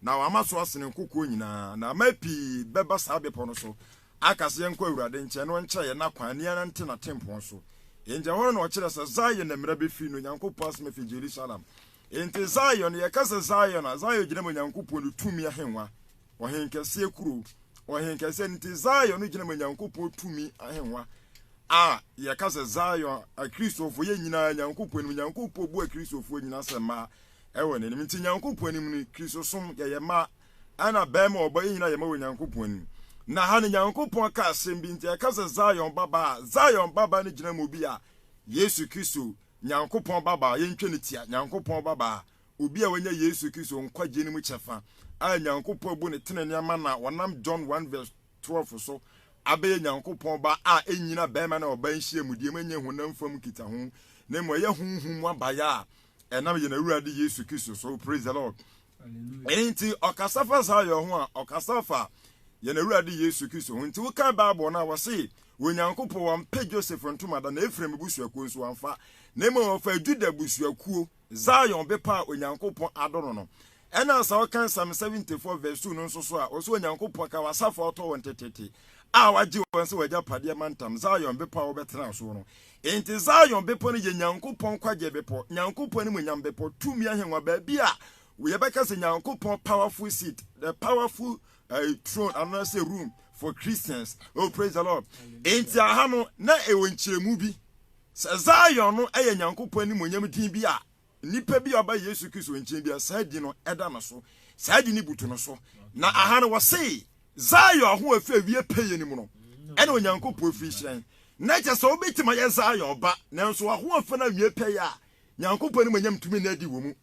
Na wama so asene nkokoɔ nyinaa, na aman pii bɛba saa bepɔ no so, aka sɛ, Yɛnkɔ Awurade nkyɛn, na ɔnkyerɛ yɛn n'akwan, na yɛnante n'atempɔn so. Enti ɛhɔ no na wɔkyerɛ sɛ Zion na mmara bɛfiri, na Onyankopɔn asɛm afiri Yerusalem. Enti Zion, yɛka sɛ Zion a, Zion gyina ma Onyankopɔn ne tumi ahennwa, ɔhenkɛseɛ kuro, ɔhenkɛseɛ, enti Zion no gyina ma Onyankopɔn tumi ahennwa a yɛka sɛ Zion, Akristofoɔ, yɛn nyinaa, Nyankopɔn anim, Nyankopɔn bu Akristofoɔ nyinaa sɛ mmaa, Ɛwɔ n'anim. Nti Nyankopɔn anim no, Kristosom, yɛyɛ mma, ɛna bɛɛma a ɔbɔ yɛ nyina yɛ mma wɔ Nyankopɔn anim. Na ha no Nyankopɔn ka asɛm bi, nti ɛka sɛ Zion babaa a, Zion babaa no gyina ma obi a, Yesu Kristo, Nyankopɔn babaa, yɛntwa no tia, Nyankopɔn babaa, obi a wanya Yesu Kristo nkwagyeɛ no mu kyɛfa, a Nyankopɔn abu no tenenee ama no a wɔnam John one verse twelve so abɛyɛ Nyankopɔn ba a ɛnnyina bɛɛma ne ɔbaa nhyiamudeɛ mu, ɛnyɛ honam fam nkitaho, na mmom ɛyɛ honhom mu abaeɛ a ɛnam yɛn awurade yesu kristo so praise the lord nti ɔkasa fa saa yɛ ho a ɔkasa fa yɛn awurade yesu kristo ho nti wokan bible no a wɔse onyankopɔn wampɛ joseph ntomada na efraim busuakuo nso wamfa na mmom ɔfa juda busuakuo zion bepɔ a onyankopɔn adɔ no no Ɛna saa ɔka Psalm 74 vs 2 no nso so a, ɔsɛ Onyankopɔn ka w'asafo a ɔtɔ wɔn teteete, a wagye wɔn sɛ w'agyapadeɛ mantam, Zion bepɔ a wobɛtena soɔ no. Enti Zion bepɔ no yɛ Nyankopɔn nkwagyeɛ bepɔ, Nyankopɔn animuonyam bepɔ, tumi ahengua, baabi a yɛbɛka sɛ Nyankopɔn powerful seat, the powerful uh, throne anaasɛ room for Christians. Oh, praise the Lord. Enti aha no, na ɛwɔ nkyerɛmu bi sɛ Zion no yɛ Nyankopɔn animuonyam din bi a Nipa bi a ɔba Yesu Kristo nkyen bi a saa din no da no so, saa din no butu no so. Na aha no wɔse, Zion ho a ɛfiri awie pɛyɛ no mu no, ɛna Onyankopɔn firi hyerɛn. Na kyɛ sɛ wobɛtumi ayɛ Zion ba, nanso ahoɔfɛ no awie pɛyɛ a Nyankopɔn animuonyam tumi nna adi wɔ mu.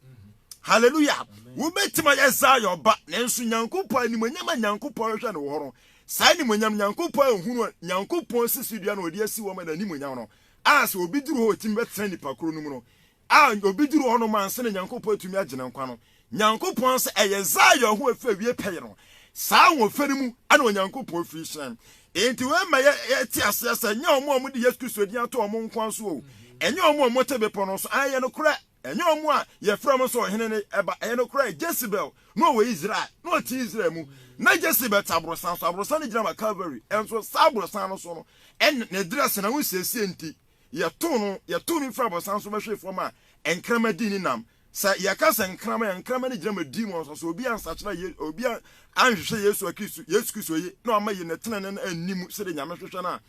Hallelujah! Wobɛtumi ayɛ Zion ba, nanso Nyankopɔn animuonyam a Nyankopɔn hwehwɛ no wɔ hɔ no, saa animuonyam no Nyankopɔn anhunu a Nyankopɔn sisi dua no a ɔde asi hɔ ma no animuonyam no, a sɛ obi duru hɔ a otumi bɛtena nnipa koro no mu no, a obi duru hɔ nom ansa na Nyankopɔn atumi agye no nkwa no, Nyankopɔn se, Ɛyɛ Zion ho afi awiei pɛyɛ no. Saa ahoɔfɛ no mu na Onyankopɔn fi hyɛn. Enti wei ma yɛte aseɛ sɛ, ɛnyɛ wɔn a wɔde Yesu Kristo din ato wɔn nkoa so o, ɛnyɛ wɔn a wɔte bepɔ no so, aane, ɛyɛ nokorɛ, Ɛnyɛ wɔn a wɔfrɛ wɔn sɛ ɔhene no ba. Ɛyɛ nokorɛ, Jezebel na ɔwɔ Israel, na ɔte Israel mu. Na Jezebel te aborosan so. Aborosan no gyina ma Calvary. Nso saa aborosan no so no, ɛnna ne dress no, ahosiesie nti, wɔtoo no, wɔtoo no firii aborosan so bɛhwee fam a nkrama dii ne nam. Sɛ wɔka sɛ nkrama a, nkrama no gyina ma demons. Sɛ obi ansakyera Ye, obi a anhwehwɛ Yesu a Kristo, Yesu Kristo ye, na wamma Ye ne tenenee no anni mu sɛdeɛ Nyame hwehwɛ no a,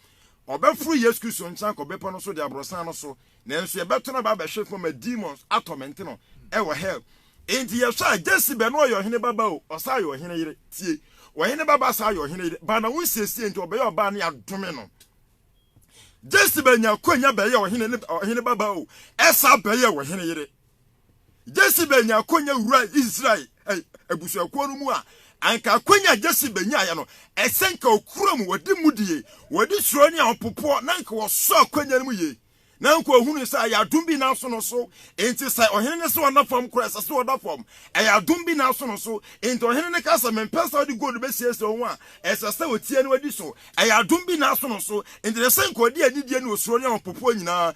ɔbɛforo Yesu Kristo nkyɛn akɔ bepɔ no so de aborosan no so Nanso yɛbɛtɔn aba abɛhwe fam ma demons atɔmɛnte no wɔ hell. Enti yɛhwɛ a, Jesibe no ɔyɛ ɔhene ba ba o, ɔsan yɛ ɔhene yere. Tie! Ɔhene ba ba san yɛ ɔhene yere. Ba na wo nsiesie nti ɔbɛyɛ ɔbaa ne adome no. Jesibe nya akwanya bɛyɛ ɔhene ne ɔhene ba ba o, ɛsan bɛyɛ ɔhene yere. Jesse benya akwanya wura Israel eh, abusuakuo no mu a, anka akwanya a Jesse benyaeɛ no, ɛsɛ nka ɔkura mu, wɔde mudie, wɔde suro ne ahopopoɔ, na anka wɔsɔ akwanya no mu yie. Na anka ɔhunu sɛ ɛyɛ adom bi na aso no so, enti sɛ ɔhene no sɛ ɔna fam koraa ɛsɛ sɛ ɔda fam. Ɛyɛ adom bi na aso no so, enti ɔhene no ka sɛ, Mempɛ sɛ wode gold bɛsiesie wo ho a, Ɛsɛ sɛ otie na odi so. Ɛyɛ adom bi na aso no so enti ɛsɛ sɛ nka ɔde anidie ne osuro ne ahopopoɔ nyinaa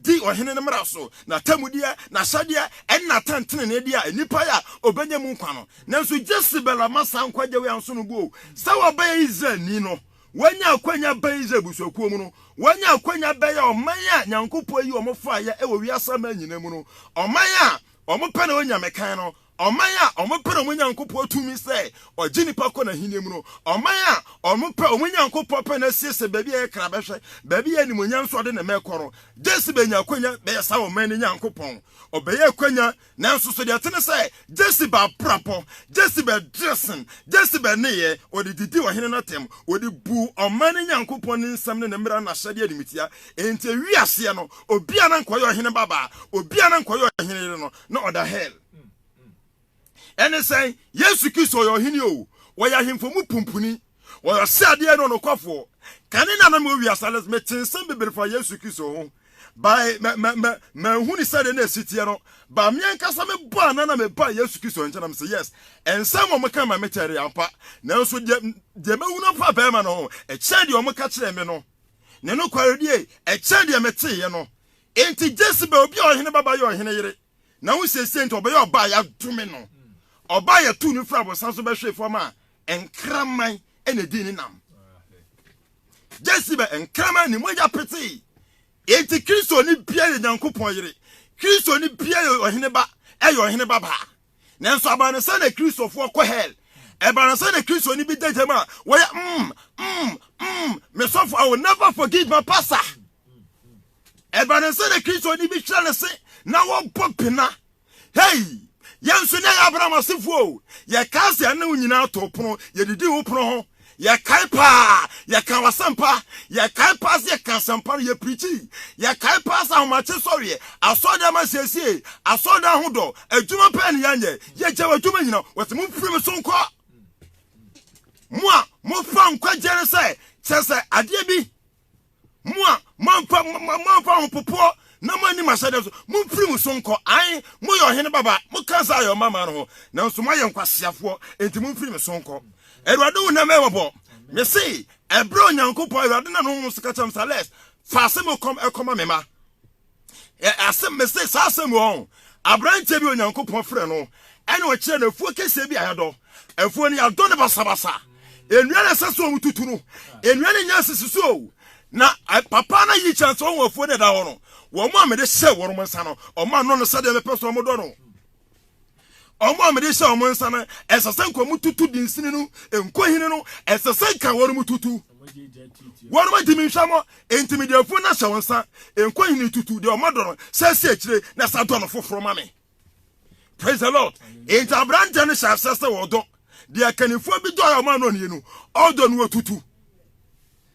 di ɔhene no mmara so, n'atemmudeɛ, n'ahyɛdeɛ, ne n'atɛntenenee a nnipa yɛ a ɔbɛnya mu nkwa no. Nanso Jesebel amma saa nkwagye wei anso no bo. Sɛ wabɛyɛ Israelni no, wanya akwanya abɛn Israel abusuakuo mu no, wanya akwanya abɛyɛ ɔman a Nyankopɔn ayi wɔn faeɛ wɔ wiase aman nyinaa mu no, ɔman a wɔpɛ na wɔnya mekan no, Ɔman a wɔpɛ wɔn Nyankopɔn tumi sɛ ɔgye nnipa kɔ n'ahenni mu no, ɔman a wɔpɛ wɔn Nyankopɔn pɛ na asiesie baabi a ɛyɛ kra bɛhwɛ baabi a animuonyam nso ɔde ne mma rekɔ no, Jezebel nya akwanya bɛyɛ saa ɔman no Nyankopɔn. Ɔbɛyɛ akwanya, nanso so deɛ ɛte ne sɛ Jezebel abrabɔ, Jezebel dressing, Jezebel nneyɛɛ, ɔde didii ɔhene no atɛm, ɔde buu ɔman no Nyankopɔn ne nsɛm ne ne mmara ne n'ahyɛdeɛ animtia. Enti awie aseɛ no, obiara na anka ɔyɛ ɔhene babaa, obiara na anka ɔyɛ ɔhene yere no, na ɔda hell. Ɛne sɛn? Yesu Kristo ɔyɛ ɔhene o, wɔyɛ ahemfo mu pumpuni, wɔyɛ ɔsɛadeɛ ne ɔnokwafoɔ. Kane na na mewɔ wiase no, mete nsɛm bebree fa Yesu Kristo ho, bae, manhu ne sɛdeɛ na ɛsi teɛ no, ba me ankasa mebɔ anan na mebaa Yesu Kristo nkyɛn na mesɛ yes, nsɛm a wɔka ma me kyɛre ampa, nanso deɛ, deɛ mahu no pa bɛrima no ho, ɛkyɛn deɛ wɔka kyerɛɛ me no, ne nokwaredie, ɛkyɛn deɛ meteeɛ no. Enti Jezebel, obi a ɔhene babaa yɛ ɔhene yere, na wo seesei nti ɔbɛyɛ ɔbaa a yɛadome no, ɔbaa a yɛtoo no firi abosam so bɛhwee fam a nkraman na ɛdii ne nam. Jezebel, nkraman ne mogya petee. Enti Kristoni biara yɛ Nyankopɔn yere, Kristoni biara yɛ ɔhene ba, ɛyɛ ɔhene babaa. Nanso ɛba no sɛ na Kristofo kɔ hell. Ɛba no sɛ na Kristoni bi da gyam a wɔyɛ mm, mm, mm, me sɔfo, I will never forgive my pastor. Ɛba no sɛ na Kristoni bi hwɛ ne se na wɔbɔ pena. Hei, yɛn nso na yɛ Abraham asefoɔ o. Yɛkaa sɛ yɛne wo nyinaa too pono, yɛdidi wo pono ho. Yɛkae paa, yɛkaa w'asɛmpa. Yɛkae paa sɛ yɛkaa asɛmpa no, yɛpirikyii. Yɛkae paa sɛ ahomakye sɔreɛ, asɔredan ma nsiesiee, asɔredan ahodɔ, adwuma pɛɛ ne yɛnyɛ. Yɛgyae w'adwuma nyina. Wɔse momfiri me so nkɔ, mo a mofa nkwagyeɛ no sɛ kyerɛ sɛ adeɛ bi Mo a moamfa moamfa ho popoɔ na moanni m'ahyɛdeɛ so, momfiri mo so nkɔ. Ae, moyɛ ɔhene babaa, moka Zion mmammaa no ho, nanso moayɛ nkwaseafoɔ, enti momfiri me so nkɔ. Awurade wo na mmɛyɛ mmɔbɔ. Mese, ɛberɛ a Onyankopɔn, Awurade nam ne honhom so ka kyerɛɛ me sɛ, Les, fa asɛm a ɛkɔm ɛkɔma me mma. asɛm mese saa asɛm wɔ ho aberanteɛ bi onyankopɔn frɛ no ɛne ɔkyerɛ no afuo kɛseɛ bi a yɛdɔ afuo no yɛadɔ no basabasa nnua no ɛsɛ so ɔmo tutu no nnua no nya sisi so o na papa no yi kyɛn sɛ ɔwɔ afuo no ɛda hɔ no wɔn a mede hyɛ wɔn nsa no ɔmo ano no sɛdeɛ mepɛ so ɔmo dɔ no wɔn a wɔde hyɛ wɔn nsa no ɛsɛ sɛ nka wɔtutu dinsini no nkohini no ɛsɛ sɛ nka wɔn tutu wɔn ma gyimi nhwɛ mo nti mi deɛ fun na hyɛ wɔn nsa nkohini tutu deɛ wɔn adɔ no sɛ si akyire na sa dɔ no foforɔ ma mi praise the lord nti aberanteɛ no hyɛ asɛ sɛ wɔdɔ deɛ kannifoɔ bi dɔ a wɔn anɔ nie no ɔdɔ no wɔtutu.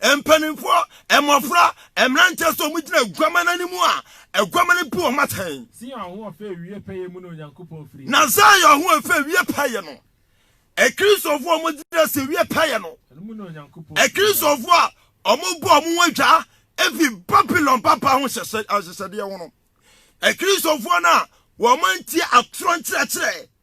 Mpanimfoɔ, mmɔfra, mmeranteɛ sɛ wɔn gyina aguaman no anim a, aguaman no bu wɔn atɛn. Zion ho ɔfɛ awie pɛyɛ mu na Onyankopɔn firi. Na Zion ho ɔfɛ awie pɛyɛ no, Akristofoɔ a wɔgyina sɛ awie pɛyɛ no, ɛno mu na Onyankopɔn. Akristofoɔ a wɔbɔ wɔn ho adwaa efi Babilon papa ho hyehyɛ ahyehyɛdeɛ ho no, Akristofoɔ no a wɔantie atorɔ nkyerɛkyerɛ.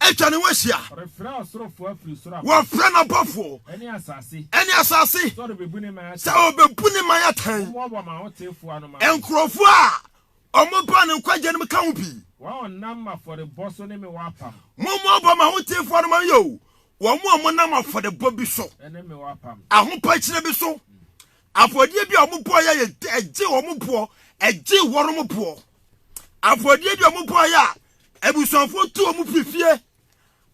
atwa ne ho ahyia. Wɔfrɛ n'abɔfoɔ ɛne asase sɛ ɔbɛbu ne man atɛn. Nkurɔfoɔ a wɔba ne nkwagyeɛ no mu ka ho bi. Wɔnam afɔrebɔ so ne me wɔ apam. Mommoaboa ma ahotefoɔ no ma yɛ o. Wɔn a wɔnam afɔrebɔ bi so, ahopakyire bi so, afɔdeɛ bi a wɔbɔ yɛ yɛ ɛgye wɔn boɔ, ɛgye wɔn boɔ. Afɔdeɛ bi a wɔbɔ yɛ a Abusuafoɔ tu wɔn firi fie.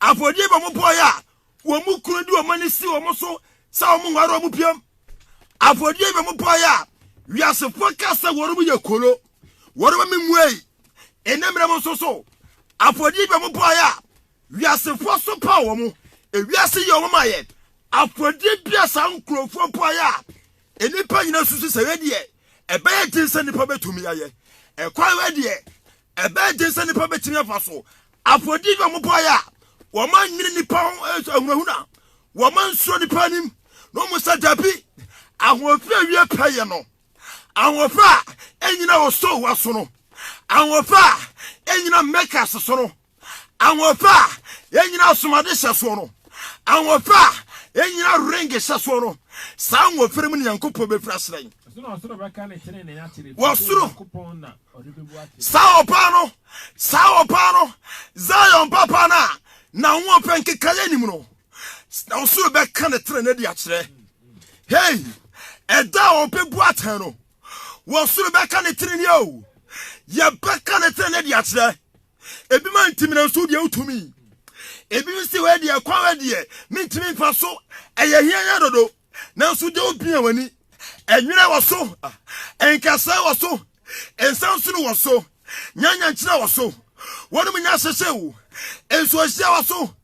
Afɔdie bɔ wɔn bɔɔeɛ a, wɔn kunu de wɔn ani si wɔn so sɛ wɔn nware wɔn piam. Afɔdie bɔ wɔn bɔɔeɛ a, wiasefoɔ ka sɛ wɔn yɛ kolo, wɔn ma menwuei. Ɛnɛ mmerɛ mu nso so, afɔdie bɔ wɔn bɔɔeɛ a, wiasefoɔ so paw wɔn. Ewiase yɛ wɔn ayɛ. Afɔdie bia saa nkurɔfoɔ bɔɔeɛ a, nnipa nyinaa susu sɛ wei deɛ, ɛbɛyɛ den sɛ nnipa bɛtumi ayɛ. Ɛkwan wei deɛ, Ɛbɛyɛ den sɛ nnipa betumi afa so apo adi a wɔbɔe a wɔannwene nnipa ho eh, ahunahuna, wɔansuro nnipa anim na wɔn sɛ dabi. Ahoɔfɛ a wie pɛ yɛ no, ahoɔfɛ a ɛnyina Osowa so no, ahoɔfɛ a ɛnyina Mekas so no, ahoɔfɛ a ɛnyina Asomade hyɛ soɔ no, ahoɔfɛ a ɛnyina Ring hyɛ soɔ no, saa ahoɔfɛ no mu ne Nyankopɔn bɛfiri ahyerɛn. Wɔsoro Saa ɔbaa no, saa ɔbaa no, Zion babaa no a n'ahoɔpɛ nkekaeɛ nim no, na ɔsoro bɛka ne tena no de akyerɛ. Hei, ɛda a ɔbɛbu atɛn no, wɔsoro bɛka ne tene ni o, yɛbɛka ne tene no de akyerɛ. Ebi ma ntimina nso deɛ wotumi. Ebi si hɔ deɛ kwan deɛ mentumi mfa so, ɛyɛ hiɛhiɛ dodo. nanso deɛ wopia w'ani ɛnwerɛ wɔ so nkasɛe wɔ so nsansono wɔ so nyanyankyerɛ wɔ so wɔnom nya hyehyɛ wo nsuohyia wɔ so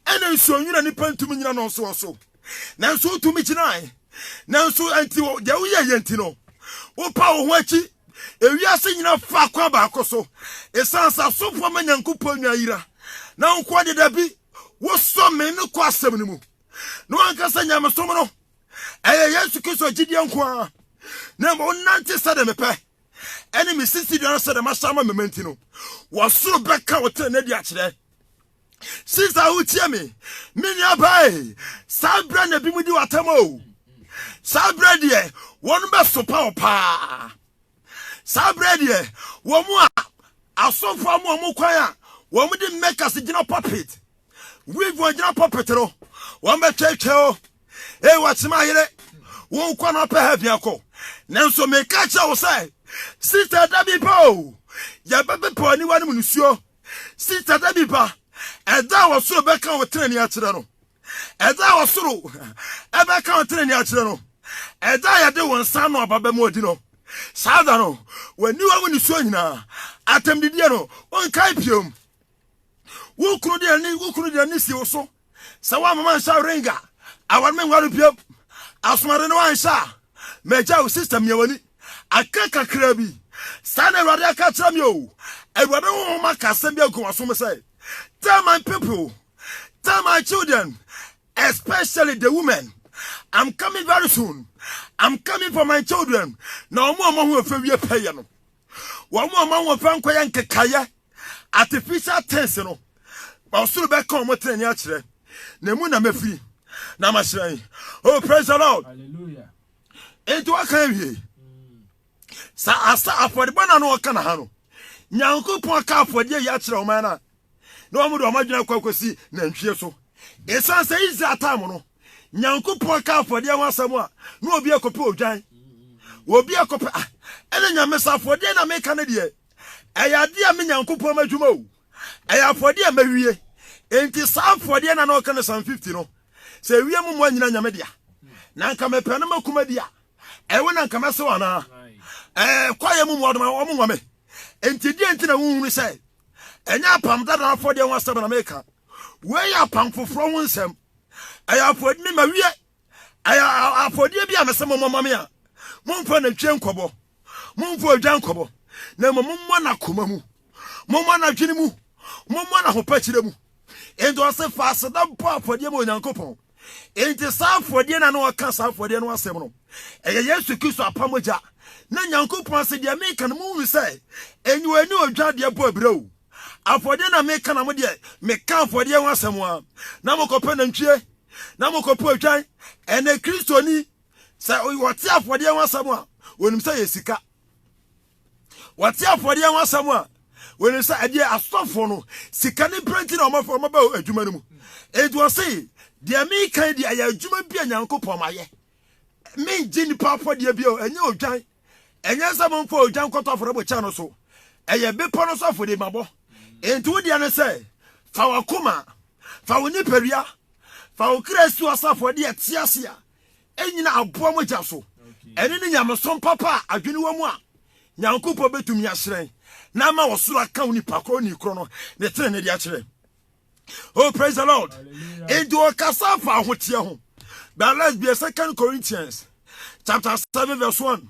ɛna nsuo nwera nipa ntumi nyina no nso wɔ so nanso wotumi gyinae nanso ɛnti deɛ woyɛ yɛ nti no wopa wo ho akyi ewiase nyina fa kwan baako so ɛsiane sɛ asomfoɔ ma nyankopɔn nwa yira na nkoa dedabi wosɔ me no kɔ asɛm no mu na wanka sɛ nyamesom no ɛyɛ yesu kristo gyidie nko ara na mmom wonante sɛde mepɛ ɛne me sisi dua no sɛde mahyɛ ama mema nti no wɔsoro bɛka wo tenene de akyerɛ sisa wotie me me nuabae saa berɛ na bi mu di watam o saa berɛ deɛ wɔn bɛsopa wo paa Saa berɛ deɛ wɔn a asɔfoɔ ama wɔn kwan a wɔde makers gyina puppet weave wɔn gyina puppet no wɔn bɛtwɛtwɛ o ee wɔkyema yere wɔn nkwa na ɔpɛ ha biako nanso meka kyerɛ wo sɛ sista da bi ba o yɛbɛpepa aniwa no mu nsuo sista da bi ba ɛda a wɔsoro bɛka wo tenani akyerɛ no Agya a ɔsoro bɛka wo tenenee akyerɛ no, Agya a yɛde wo nsa ano aba bɛma ɔdi no. Saa da no, w'aniwa mu nisuo nyinaa, atɛmdidie no, wonkae biom. Wo kunu de ani, wo kunu de ani si wo so sɛ woamma manhyɛ ring a, aware me nware biom. Asomade no anhyɛ a, magya wo sista mia w'ani. Aka kakra bi. Saa na Awurade aka akyerɛ me o. Awurade honhom aka asɛm bi agu w'asom sɛ, Tell my people. tell my children especially the women i'm coming very soon i'm coming for my children na wɔn a wɔn ho fɛ wie pɛyɛ no wɔn a wɔn ho fɛ nkɔyɛ nkekayɛ artificial things no ɔsoro bɛka wɔn tena ni akyerɛ na emu na mefiri na ma hyerɛn oh praise the lord hallelujah nti wɔka awie sɛ asa afɔrebɔ na no wɔka na ha no nyankopɔn ka afɔdeɛ yi akyerɛ wɔn no a na wɔn de wɔn adwene akɔ akɔsi nantwie so. Esiane sɛ Israel taa mo no, Nyankopɔn ka afɔdeɛ ho asɛm a, na obi akɔpɛ odwan. Obi akɔpɛ, ah, ɛna nyame sɛ afɔdeɛ na meka no deɛ, ɛyɛ adeɛ a me Nyankopɔn m'adwuma o. Ɛyɛ afɔdeɛ a mawie. Enti saa afɔdeɛ na na ɔka no Psalm 50 no, sɛ ewiem mmoa nyina nyame dea. Na nka mepɛ no makuma di a, ɛwo na nka mɛsew anaa? Ɛɛ, kwaeɛ mu mmoadoma, wɔn nwa me. Enti deɛ nti na wonhunu sɛ Ɛnyɛ Apam Dada afɔdeɛ ho asɛm na meka. Wei yɛ Apam Foforɔ ho nsɛm. Ɛyɛ afɔdi ne mawie. Ɛyɛ afɔdeɛ bi a mese mommɔ ma me a momfa natwie nkɔbɔ, momfa odwa nkɔbɔ, na mmom mommɔ no akoma mu, mommɔ no adwene mu, mommɔ no ahopakyerɛ mu. Enti ɔse fa aseda bɔ afɔdeɛ ma Onyankopɔn. Enti saa afɔdeɛ no a na wɔka saa afɔdeɛ no asɛm no, ɛyɛ Yesu Kristo apam mogya. Na Nyankopɔn se, Deɛ meka no, monhunu sɛ enyiwa ne odwa deɛ bɔ abira o. Afɔdeɛ na meka na mo deɛ, meka afɔdeɛ ho asɛm a, na mokɔpɛ nantwie, na mokɔpɛ odwan. Ɛnna Kristoni, sɛ ɔte afɔdeɛ ho asɛm a, ɔnim sɛ ɛyɛ sika. wɔte afɔdeɛ ho asɛm a wɔnim sɛ ɛdeɛ asɔfoɔ no sika ne pira nti na wɔmaba adwuma no mu ɛnti wɔ se deɛ mekan deɛ ɛyɛ adwuma bi a nyankopɔn mayɛ mengye nnipa afɔdeɛ bi ɛnyɛ odwan ɛnyɛ sɛ momfa odwan kɔtɔ afɔrebɔ kyɛ no so ɛyɛ bepɔ no so afɔdeɛ mabɔ ɛnti wo deɛ no sɛ fa wakoma fa wo nipadua fa wo kra si wɔ sɛ afɔdeɛ te ase a nnyina aboa mogya so. Ɛno ne nyamesom papa a adwene wɔ mu a Nyankopɔn bɛtumi ahyerɛn na ama ɔsoro aka onipa korɔ ni korɔ no ne tenene de akyerɛ. Oh, praise the Lord. Enti ɔkasa fa ahoteɛ ho. But let's be a second Corinthians chapter 7 verse 1.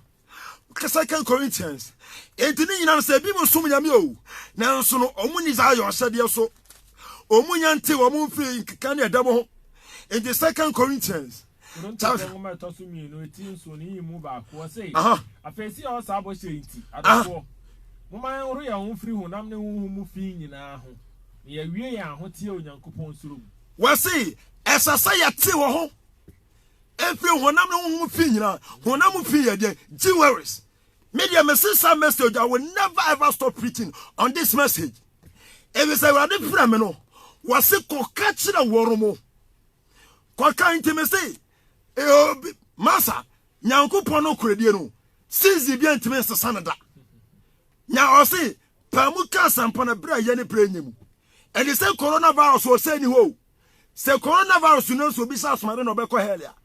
Ka Second Corinthians. Enti ne nyinaa no sɛ ebi mu som nyame o, nanso no wɔn ni saa ayɔ ahyɛdeɛ so. Wɔn nya nte wɔn mfiri nkeka ne ɛdɛm ho. Enti Second Corinthians. Korintofoɔ nwoma ɛtɔ so mmienu eti nson ne yi mu baako ɔse. Afei si yɛwɔ saa bɔhyɛ yi nti, adɔfoɔ, momma yɛnhoro yɛn ho mfiri honam ne honhom mu fi nyinaa ho, na yɛawie yɛn ahoteɛ Onyankopɔn suro mu. Wɔse ɛsɛ sɛ yɛte wɔ ho Efiri honam ne honhom fi nyina. Honam fi yɛ deɛ jewelries. Me deɛ me se saa message I will never ever stop preaching on this message. Ebi sɛ awurade fira me no. Wɔse kɔka kyerɛ wɔn mo. Kɔka nti me se eobi masa nyankopɔn no koredie no season bi ntumi nsesa no da. Nya ɔse paamu ka asɛmpa no berɛ a yɛ ne berɛ nyɛ mu. Ɛde sɛ coronavirus ɔsɛ ni hɔ o. Sɛ coronavirus no nso obi hyɛ asomaden na ɔbɛkɔ hell a,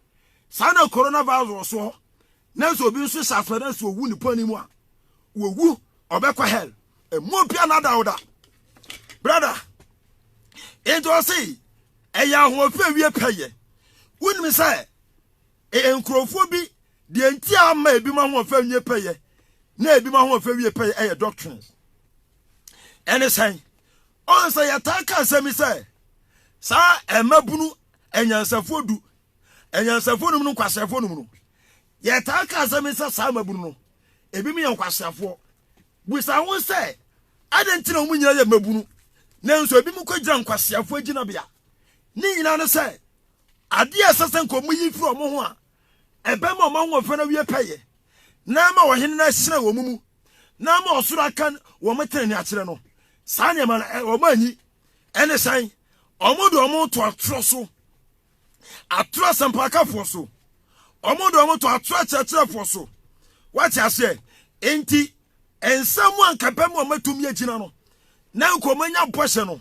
saa na coronavirus wɔ so hɔ. Na nso obi nso hyɛ asomaden nso owu ne pɔn mu a, owu ɔbɛkɔ hell. Emu obi anadawda. Brother, nti ɔse ɛyɛ ahoɔfɛ wie pɛyɛ. Wonim sɛ e, nkurɔfoɔ bi deɛ nti a ama ebi ma ahoɔfɛ wie pɛyɛ na ebi ma ahoɔfɛ wie pɛyɛ ɛyɛ doctrines. Ɛne sɛn? Ɔn sɛ yɛtaa ka asɛm bi sɛ, saa mmabunu anyansafoɔ du, anyansafoɔ num no nkwaseafoɔ num no, yɛtaa ka asɛm bi sɛ saa mmabunu no, ebinom yɛ nkwaseafoɔ. Bisa ho sɛ, adɛn nti na wɔn nyinaa yɛ mmabunu, nanso ebinom kɔgyina nkwaseafoɔ gyinabea? Ne nyinaa ne sɛ, adeɛ a ɛsɛ sɛ nka wɔyi firi wɔn ho a ɛbɛma wɔn ahoɔfɛ no awie pɛyɛ, na ama wɔn hene no ahyerɛn wɔn mu, na ama ɔsoro aka wɔn tenenee akyerɛ no. Saa nneɛma no, ɛ- wɔn anyi. Ɛne sɛn? Wɔn de wɔn to atorɔ so, atorɔ asɛmpakafoɔ so. Wɔn de wɔn to atorɔ akyerɛkyerɛfoɔ so. Wate aseɛ? Enti, nsɛm a nka ɛbɛma wɔn atumi agyina no, na nka wɔn anya bɔhyɛ no,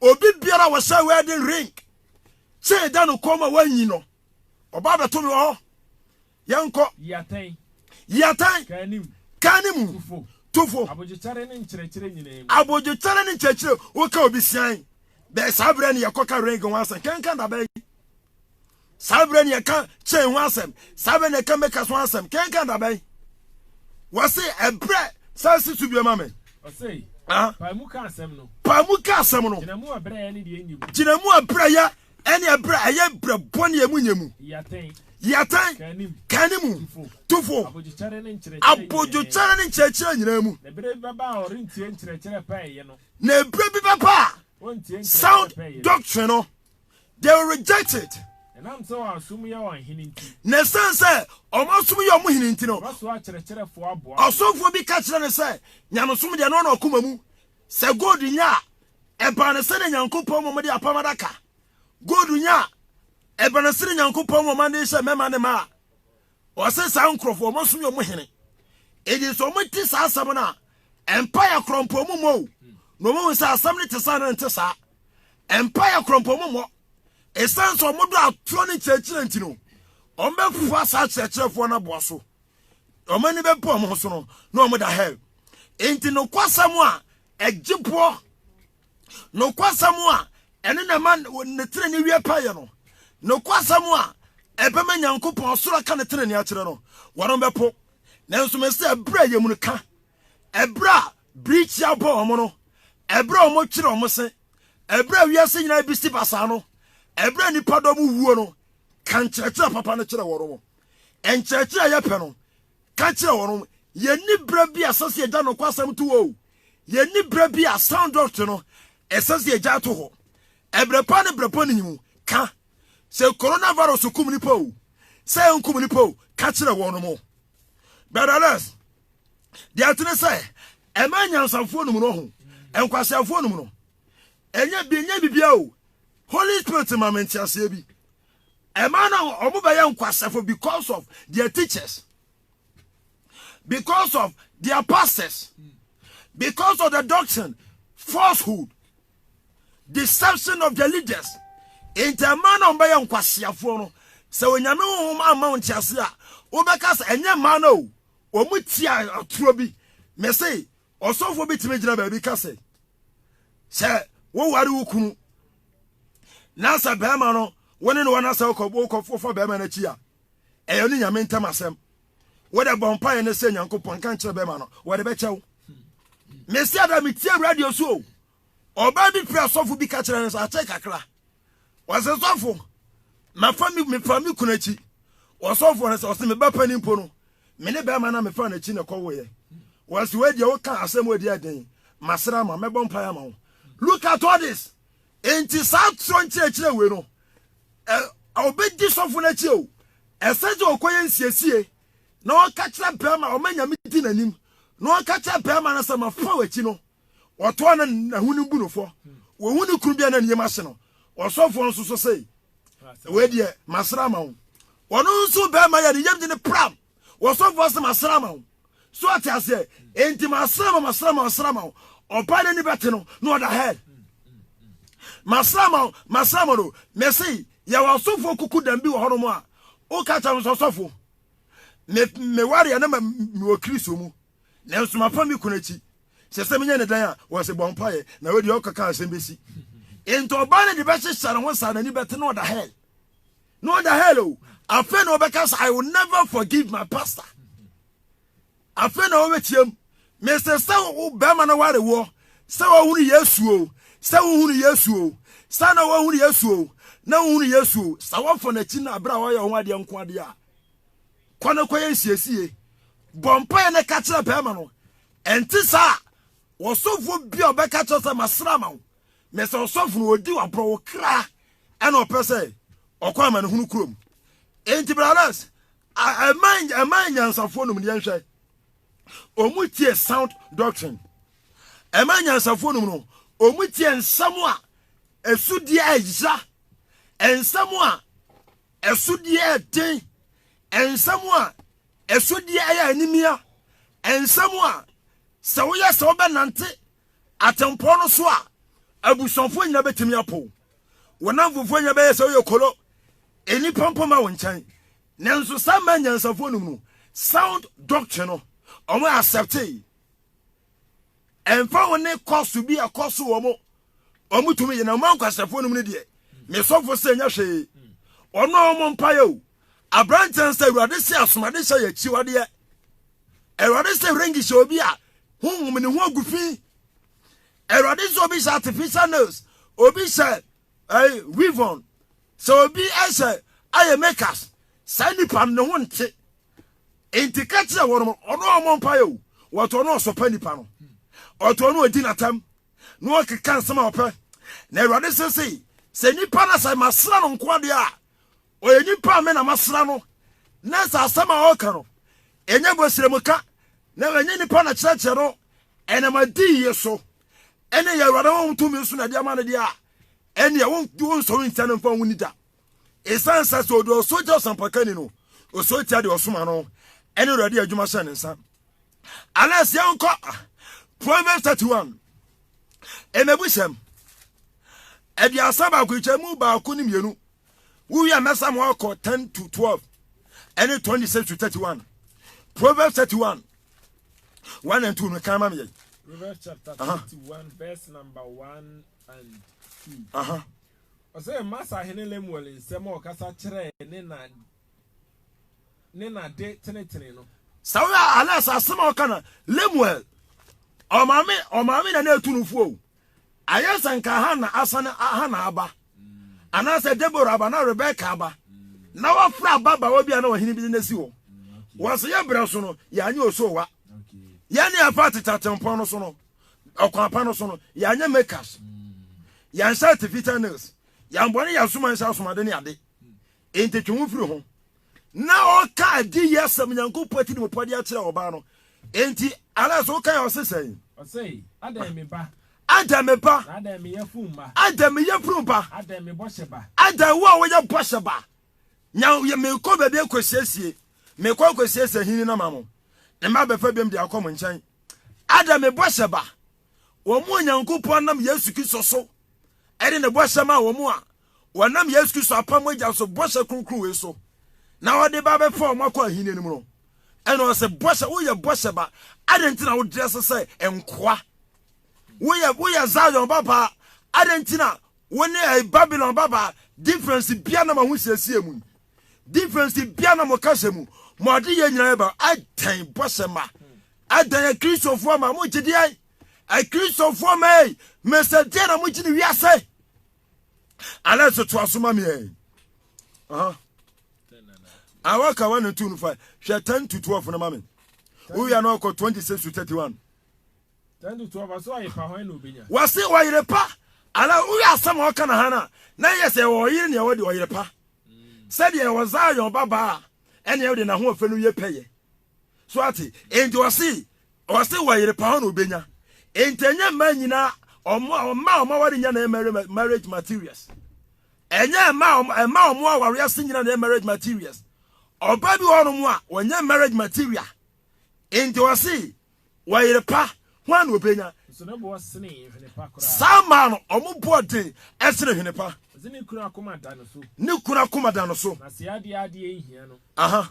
obi biara wɔhyɛ wedding ring kyee da no kɔn ma wanyi no ɔba abɛto me wɔ hɔ yɛnkɔ yiatan kan ne mu tofo abodwokyɛre ne nkyerɛkyerɛ nyinaa mu abodwokyɛre ne nkyerɛkyerɛ woka obi sian bɛɛ saa berɛ ne yɛkɔka ring ho asɛ kankan dabɛn saa berɛ ne ɛka chain ho asɛm saa berɛ ne ɛka makers ho asɛm kenka dabɛn wɔse ɛberɛ saa si so biama me paa mu ka asɛm no gyina mu abrɛyɛ ɛne ɛberɛ ɛyɛ berɛ bɔne ɛmu nyɛ mu yɛtɛn kane mu tofo abodwokyɛre ne nkyerɛkyerɛ nyinaa mu na ɛberɛ bi bɛba a sound doctrine no they will reject it. na ɛsiane sɛ ɔmasom yɛ ɔmo hene nti no ɔsomfoɔ bi ka kyerɛ ne sɛ nyamesom deɛ no ɔna ɔkoma mu sɛ god nya a ɛbaa ne sɛdeɛ nyankopɔn ma ɔmode apam adaka god nya a ɛbaa ne sɛdeɛ nyankopɔn ma ɔmade hyɛ mɛma ne ma a Ɔse saa nkurɔfoɔ wɔn asom yɛ wɔn hene. Enti sɛ wɔn te saa asɛm no a, mpaeɛ korɔ mpo wɔn mmɔ o. Na wɔn ahu sɛ asɛm no te saa na ɛnte saa. Mpaeɛ korɔ mpo wɔn mmɔ. Ɛsiane sɛ wɔn dɔ atorɔ ne nkyerɛkyerɛ nti no, wɔn bɛfa saa akyerɛkyerɛfoɔ no aboa so. Wɔn ani bɛbu wɔn ho so no, na wɔn da hell. Enti nokwasɛm a ɛgye boɔ nokwasɛm a ɛno na ɛma ne tenenee wie pɛyɛ no, nokwasɛm a ɛbɛma nyankopɔn ɔsoro aka ne tenenee akyerɛ no, wɔnom bɛpo. Nanso me sɛ ɛberɛ a yɛmunu ka, ɛberɛ a birikyi abɔ wɔn no, ɛberɛ a wɔtwere wɔn se, ɛberɛ a wiase nyinaa bisi basaa no, ɛberɛ a nnipa dɔm wuo no, ka nkyerɛkyerɛ papa no kyerɛ wɔnom. Nkyerɛkyerɛ a yɛpɛ no, ka kyerɛ wɔnom, yɛnni berɛ bi a ɛsɛ sɛ yɛgya nokwasɛm to o. Yɛnni berɛ bi a sound dɔt no ɛsɛ sɛ yɛgyae to hɔ. Ɛberɛ pa ne berɛ bɔne mu ka. Sɛ coronavirus kum nipa o, sɛ ɛnkum nipa o, ka kyerɛ wɔnom. But alas, deɛ ɛte ne sɛ, ɛma anyansafoɔ nom no ho, nkwaseafoɔ nom no. Ɛnyɛ bi ɛnyɛ bibia o. Holy Spirit ma me nteaseɛ bi. Ɛma na wɔn bɛyɛ nkwasafo because of their teachers. because of their pastors, because of the doctrine, falsehood, deception of the leaders. Nti ɛmaa na ɔbɛyɛ nkwasiafoɔ no sɛ onyame honhom ama wo ntease a wobɛka sɛ ɛnyɛ mmaa no o ɔmu tia atoro bi me se ɔsɔfoɔ bi tumi gyina baabi ka sɛ sɛ woware wo kunu na sɛ bɛrima no wo ne no wɔna sɛ wokɔfofa bɛrima no akyi a ɛyɛ ɔne nyame ntam asɛm wode bɔ mpaeɛ no sɛ nyankopɔn nka nkyerɛ bɛma no wɔde bɛkyɛ wo mesi ada metie radio so o ɔbaa bi pira sɔfo bi ka kyerɛ no sɛ akyɛ kakra wɔsɛ sɔfo mafa me mefa me kunu akyi ɔsɔfo no sɛ ɔsɛ meba pani mpo no me ne bɛrima no mefa no akyi na ɛkɔwoeɛ wɔsɛ wɔadiɛ woka asɛm wɔdi ɛden masra ma mɛbɔ mpaeɛ ama wo look at all this Enti saa atorɔ nkyerɛkyerɛ wei no, ɛ, ɔbɛdi sɔfo no akyi o, ɛsɛ sɛ ɔkɔyɛ nsiesie na ɔka kyerɛ bɛrima, ɔma Nyame di n'anim, na ɔka kyerɛ bɛrima no sɛ mafa w'akyi no, ɔtoa no n'ahonim bu no fɔ. Wɔhu ne kunu bi a na ne yam ahye no, ɔsɔfoɔ nso so se, wei deɛ, masra ama wo. Ɔno nso bɛrima yɛ ne yam de no pram. Wɔsɔfoɔ se masra ma wo. So ɔte aseɛ? Enti masra ma masra ma masra ma wo. Ɔbaa n'ani bɛte no na ɔda hell. Masra ma masra ma no. Mese yɛwɔ asɔfoɔ kuku dam bi wɔ hɔnom a woka kyɛ no sɛ ɔsɔfo me mewareɛ na mewɔ Kristo mu nanso mafa me kunu akyi sɛ sɛ menyɛ ne dan a wɔse bɔ mpaeɛ na wei deɛ ɔkɔka asɛm bɛsi nti ɔbaa no de bɛhyehyɛ ne ho saa n'ani bɛte na ɔda hell na ɔda hell o afei na ɔbɛka sɛ i will never forgive my pastor afei na ɔbɛtiam mesɛ sɛ wo bɛrima no ware woɔ sɛ wohunu yesu o sɛ wohunu yesu o sɛ na wohunu yesu o na wohunu yesu o sɛ wɔfɔ n'akyi no aberɛ a wɔyɛ ho adeɛ nko adeɛ a kɔ no kɔyɛ nsiesie bɔ mpaeɛ no ka kyerɛ bɛrima no ɛnte saa wɔsɔfoɔ bi a ɔbɛka kyerɛ sɛ masra ma wo Na sɛ ɔsɔfo no odi waborɔwo kra na ɔpɛ sɛ ɔkɔ amanehunu kurom. Enti brothers, ɛma ɛma nyansafoɔ nom deɛ nhwɛ. Ɔmu tie sound doctrine. Ɛma nyansafoɔ nom no, ɔmu tie nsɛm a ɛsudeɛ ɛya, nsɛm a ɛsudeɛ ɛden, nsɛm a ɛsudeɛ ɛyɛ animia, nsɛm a sɛ woyɛ sɛ wobɛnante Atempɔn no so a, abusuafoɔ nyinaa bɛtumi apo wo. Wo nnamfofoɔ nyinaa bɛyɛ sɛ woyɛ kolo, nnipa mpo ma wo nkyɛn. Nanso saa mmaa nyansafoɔ num no, sound doctrine no, wɔn acceptee. Ɛmfa wo ne kɔso bi a kɔso wɔn wɔn tumi yɛ na wɔn ankwasɛfoɔ num no deɛ, me sɔfo sɛ nyɛ hwee. Wɔn a wɔn mpaeɛ o, aberanteɛ nsa awurade sɛ asomadehyɛ yɛ akyiwadeɛ. Awurade sɛ ringi hyɛ obi a honhom ne ho agu fi. Awurade sɛ obi hyɛ artificial nails, obi hyɛ ɛɛ eh, weave sɛ obi hyɛ ayɛ makeup, saa nipa no ne ho nte. Nti ka kyerɛ wɔn mo, ɔno a ɔmo mpa yɛ o, wɔtɔ no ɔsɔpɛ nipa no, ɔtɔ no odi n'atam, na ɔkeka nsɛm a ɔpɛ. Na Awurade sɛ sei, sɛ nipa no sɛ masra no nko adeɛ a, Ɔyɛ nyimpa a me na masera no, na dza asɛm a ɔka no, nnyɛ bɔsirɛmuka, na nnyɛ nyimpa na kyerɛkyerɛ no, ɛnam adiyie so, ɛne yɛn Awurade honhom tumi so na ɛde ama no deɛ a, ɛnneɛ wonsɔre ntia no mfa ho ni da. Ɛsiane sɛ sɛ ɔde ɔsoro tia ɔsampakani no, ɔsɔre tia deɛ ɔsoma no, ɛne Awurade adwuma hyɛ ne nsa. Alas, yɛnkɔ Proverbs 31. Ɛmɛbuhyɛm. Aduasa baako, nkyɛmu baako ne mmienu. Wowie a, mɛsa mo akɔ 10 to 12 ɛne 26 to 31. Proverbs 31 1 and 2 no kan ma me yɛn. Proverbs chapter 31 verse number 1 and 2. Aha. Ɔsɛ Masa hene Lemuel nsɛm a ɔkasa kyerɛ ne na ne na de tenetene no. Sɛ woyɛ alas asɛm a ɔka na Lemuel ɔmaame ɔmaame na na etu no fuo Ayɛ sɛ anka Hana asan Hana aba, anaasɛ Deborah aba na Rebeka aba, na wafra ababaawa bi a na ɔhene bi de no asi hɔ. Wɔse yɛ berɛ so no, yɛanyɛ osoowa. Yɛn ne yɛfa tete atempɔn no so no, ɔkwan pa no so no, yɛanyɛ makeups, yɛanhyɛ artificial nails, yɛambɔ ne yɛansom anhyɛ asomaden ne ade. Enti twe wo ho firi ho. Na ɔka adiyisɛm Nyankopɔn atirimpɔ de akyerɛ ɔbaa no. Enti Alex woka yɛ ɔse sɛn? Ɔse, Adɛn me ba? Adɛn me ba? Na adɛn me yafunu ba? Adɛn me yafunu ba? Adɛn me bɔhyɛ ba? Adɛn wo a woyɛ bɔhyɛ ba? Nya mekɔ baabi akɔsiesie, mekɔ akɔsiesie ahini no ama mo, na mma bɛfa biom de akɔ mo nkyɛn. Adɛn me bɔhyɛ ba? Wɔn a Nyankopɔn nam Yesu Kristo so ɛde ne bɔhyɛ maa wɔn a wɔnam Yesu Kristo apam mogya so bɔhyɛ kronkron wei so na ɔde ba bɛfa wɔn akɔ ahenni no mu no. Ɛna ɔsɛ bɔhyɛ, woyɛ bɔhyɛ ba. Adɛn nti na wodrɛse sɛ nkoa? Woyɛ woyɛ Zion babaa. Adɛn nti na wo ne ɛyɛ Babylon babaa? Difference bia na mo ho siesie mu yi. Difference bia na mo kasa mu. Mo ade yɛ nyinaa ba. Adɛn bɔhyɛ ma? Adɛn yɛ Kristofoɔ ma? Mo gye deɛ? Akristofoɔ ma ei, mesɛ deɛ na mo gye ne wiase. Alex to aso ma me ɛ. Aha. Awa ka 1 and 2 no fa. Hwɛ 10 to 12 no ma me. Wo ya no ɔkɔ 26 to 31. 10 to 12 aso aye pa hwan na obenya. Wase ɔyere pa. Ala wo ya asɛm a ɔka na ha na. Na yɛ sɛ ɔyere ne ɛwɔ de ɔyere pa. Sɛ de ɛwɔ Zion babaa ɛne ɛwɔ de na ho ɔfɛ no yɛ pɛyɛ. so ate enti ɔse ɔse wɔyere pa hɔ na obenya enti ɛnyɛ mmaa nyinaa ɔmo a ɔmo a ɔmo aware nyɛ na ɛyɛ marriage materials ɛnyɛ mmaa ɔmo ɛmma ɔmo aware ase nyinaa na ɛyɛ marriage materials ɔba bi wɔ hɔnom a wɔnyɛ marriage material enti ɔse wɔyere pa ho a na obenya saa mmaa no ɔmo boɔ den ɛsene hwene pa ne kunu akoma da no so aha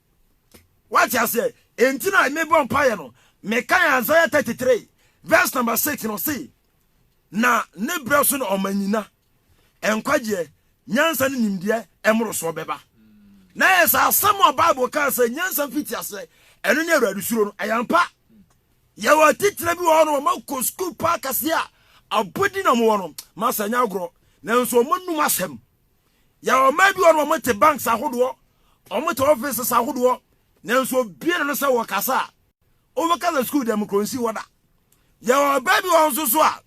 Wate aseɛ? Enti na mebɔ mpaeɛ no, mekae Isaiah 33 verse number 6 no se, Na ne berɛ so na ɔma nyina, nkwagyeɛ, nyansa ne nimdeɛ mmorosoɔ bɛba. Na ɛyɛ sɛ asɛm a Bible kaa sɛ nyansa mfiti aseɛ, ɛno ne Awurade suro no, ɛyɛ ampa. Yɛwɔ atitire bi wɔ hɔ no, wɔma kɔ sukuu paa kɛseɛ a abɔdi na wɔwɔ no, ma sɛ nyɛ agorɔ, nanso wɔnum asɛm. Yɛwɔ ɔman bi wɔ no wɔn te banks ahodoɔ, wɔn te offices ahodoɔ, nanso obie na no sɛ wɔ kasa a, wɔ kasa school dɛm kuro nsi hɔ da. Yɛwɔ ɔbaa bi wɔ wɔn nso so a,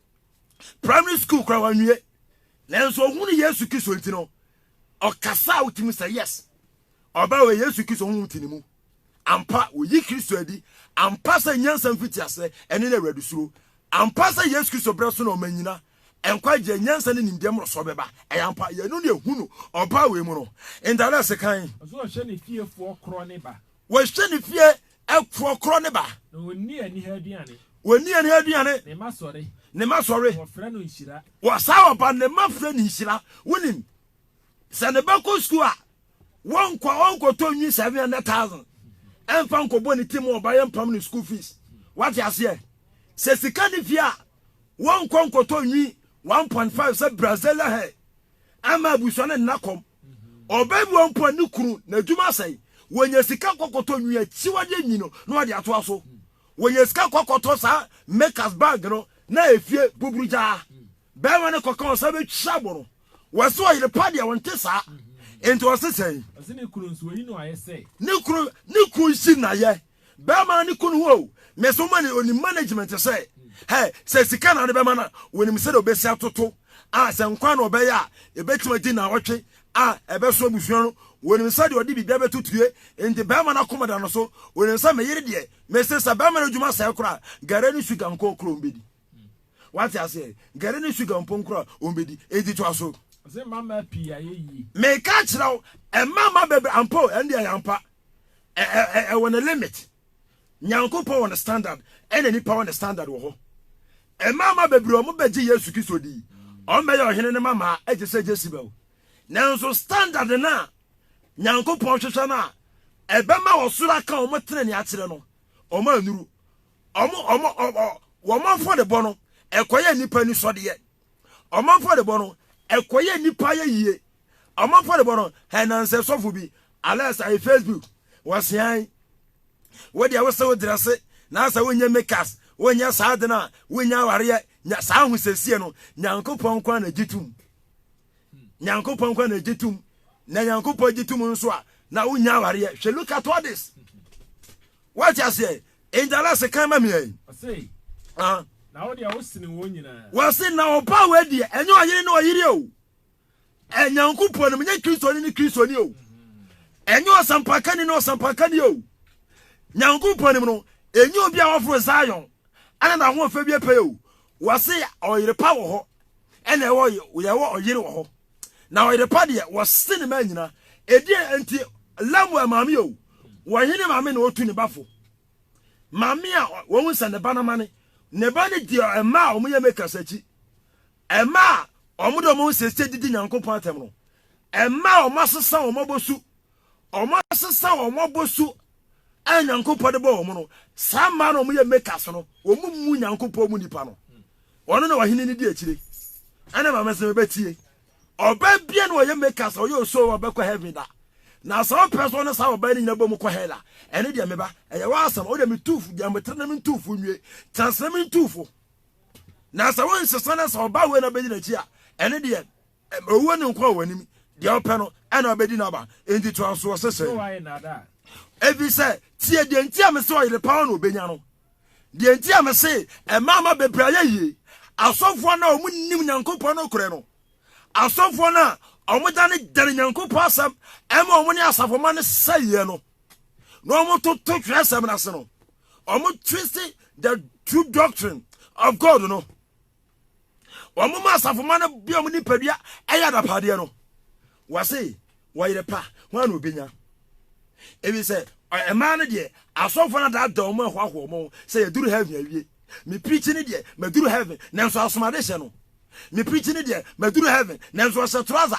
primary school kura wɔn nwie, nanso ohun Yesu Kristo nti no, ɔkasa a wotumi sɛ yes, ɔbaa wɔ Yesu Kristo ho ti ne mu. Ampa woyi Kristo adi, ampa sɛ nyansa mfiti ase, ɛne na awurade suro. Ampa sɛ Yesu Kristo brɛ so na ɔma nyina, Nkwagyeɛ, nyansa ne nimdeɛ mmorosoɔ bɛba. Ɛyɛ ampa, yɛn ano na ɛhu no. Ɔbaa wei mu no, ntadeɛ a sekan. Ɔsɛ ɔhwɛ ne fiefoɔ korɔ ne ba. Ɔhwɛ ne fie foɔ korɔ ne ba. Na ɔnni aniha aduane. Ɔnni aniha aduane. Ne mma sɔre. Ne mma sɔre. Wɔfrɛ no nhyira. Wɔ saa ɔba no, ne mma frɛ no nhyira. Wonim, sɛ ne ba kɔ sukuu a, Wɔnkɔ a ɔnkɔtɔ nwi seven hundred thousand ɛmfa nkɔbɔ ne ti mu ɔba yɛ mpam ne school fees wate aseɛ sɛ sika ne fie a wɔnkɔ nkɔtɔ nwi one point five sɛ brazilian hair ɛma abusua ne nna kɔm ɔbɛ bi wɔn pɔ ne kunu na adwuma asɛe wɔnya sika kɔkɔtɔ nwi akyiwadeɛ nwi no na wɔde atoa so wɔnya sika kɔkɔtɔ saa makers bag no na efie buburu gyaa Barima no kɔka ɔsɛ bɛtwa bo no, wɔse ɔyere pa deɛ ɔnte saa. Enti ɔse sɛn? Ɔse ne kunu nso wayi no ayɛ sɛ. Ne kunu ne kun yi no ayɛ. Barima ne kunu ho o, mese ɔma ne onim management sɛ, hɛ, sɛ sika na ade bɛma no a, wɔnim sɛdeɛ ɔbɛsi atoto a sɛ nkwa na ɔbɛyɛ a, ɛbɛtumi adi nnawɔtwe a ɛbɛso abusua no, wɔnim sɛdeɛ ɔde biribia bɛtotue. Enti barima no akoma da no so, ɔnim sɛ me yere deɛ, mese sɛ barima no adwuma sɛe koraa a, gari ne suga nkookoro ɔmbɛdi. wate aseɛ gɛre ne sugar mpo nkora ɔmbɛdi ɛdi toa so meka kyerɛ wo ɛma ma bɛbrɛ ampo ɛndeɛ yɛampa ɛwɔ ne limit nyankopɔn wɔ ne standard ɛna nipa wɔ ne standard wɔ hɔ ɛma ma bɛbrɛ ɔmo bɛgye yesu kristo di ɔmbɛyɛ ɔhene ne mamaa ɛgye sɛ jesibel nanso standard no a nyankopɔn hwehwɛ no a ɛbɛma wɔsoro aka ɔmo tene ne akyerɛ no ɔmo anuru ɔmo ɔmo ɔmo wɔn afɔrebɔ no ɛkɔyɛ nipa anisɔdeɛ ɔmo afɔrebɔ no ɛkɔyɛ nipa yɛ yie ɔmo afɔrebɔ no ɛnansɛ sɔfo bi alɛs ayi facebook wɔsean wɔde awosɛ wo drɛse na asɛ wonyɛ mekas wonyɛ saa de no a wonya awareɛ nya saa ahosɛsie no nyankopɔn kwan na gye tom nyankopɔn kwan na gye tom na nyankopɔn gye tom nso a na wonya awareɛ hwɛ look at all this Wate aseɛ? Enti alase kan ma mea yi. Ɔse, ah. na wo deɛ wosene wɔn nyinaa. Wɔse, na ɔbaa wei deɛ, ɛnyɛ ɔyere ne ɔyere o. Ɛnyankopɔn no, menyɛ Kristoni ne Kristoni o. Ɛnyɛ ɔsampakani ne ɔsampakani o. Nyankopɔn nim no, ɛnyɛ obi a wɔforo Zion, ɛna na ahoɔfɛ bi apɛyɛ o. Wɔse, ɔyere pa wɔ hɔ, ɛna yɛwɔ ɔyere wɔ hɔ. na ɔyere pa deɛ wɔse ne ma nyina ɛdeɛ nti Lemuel maame o wɔhene maame na ɔtu ne ba fo maame a wɔhu sɛ ne ba no ma ne ne ba no deɛ ɛma a wɔyɛ makers akyi ɛma a wɔde wɔn nsɛsɛ didi nyankopɔn atɛm no ɛma a wɔasesa wɔn abɔsu wɔasesa wɔn abɔsu a Nyankopɔn de bɔ wɔn no, saa mmaa na wɔyɛ makers no, wɔn mu Nyankopɔn mu nipa no. Wɔn na wɔhene no di akyire. Ɛna maame sɛ mebɛtie. Ɔbaa bia na wɔyɛ makers, ɔyɛ osuo a ɔbɛkɔ heaven da. Na sɛ ɔpɛ so ne saa ɔbaa no nyina bɔ mu kɔ hell a, ɛne deɛ meba. Ɛyɛ w'asɛm, wo deɛ metuufo, deɛ metere na mentuufo nwie. Tɛnsena mentuufo. Na sɛ wonsesa na sɛ ɔbaa wei na bɛdi n'akyi a, ɛne deɛ Owuo ne nkwa wɔ w'anim. Deɛ wopɛ no, ɛna ɔbɛdi n'aba. Enti to ansoɔ sɛ sɛn. Ɛfiri sɛ, tie deɛ nti a mese ɔyere pa ara na ɔbɛnya no. Deɛ nti a mese mmaama bebree ayɛ yie, asɔfoɔ no a wɔnnim Nyankopɔn nokorɛ no, asɔfoɔ no a wɔdane dane Nyankopɔn asɛm ma wɔn ne asafomma no sɛeɛ no, na wɔtoto twerɛsɛm no ase no, wɔtwiste the true doctrine of God no. wɔn ma asafomma no bia wɔn nipadua ɛyɛ adapadeɛ no wɔse wɔyere pa ho a na obenya ebi sɛ ɛmaa no deɛ asɔfo no adada wɔn ahoahoa wɔn sɛ yɛduru heaven awie me preach ne deɛ maduru heaven nanso asomade hyɛ no me preach ne deɛ maduru heaven nanso ɔhyɛ trouser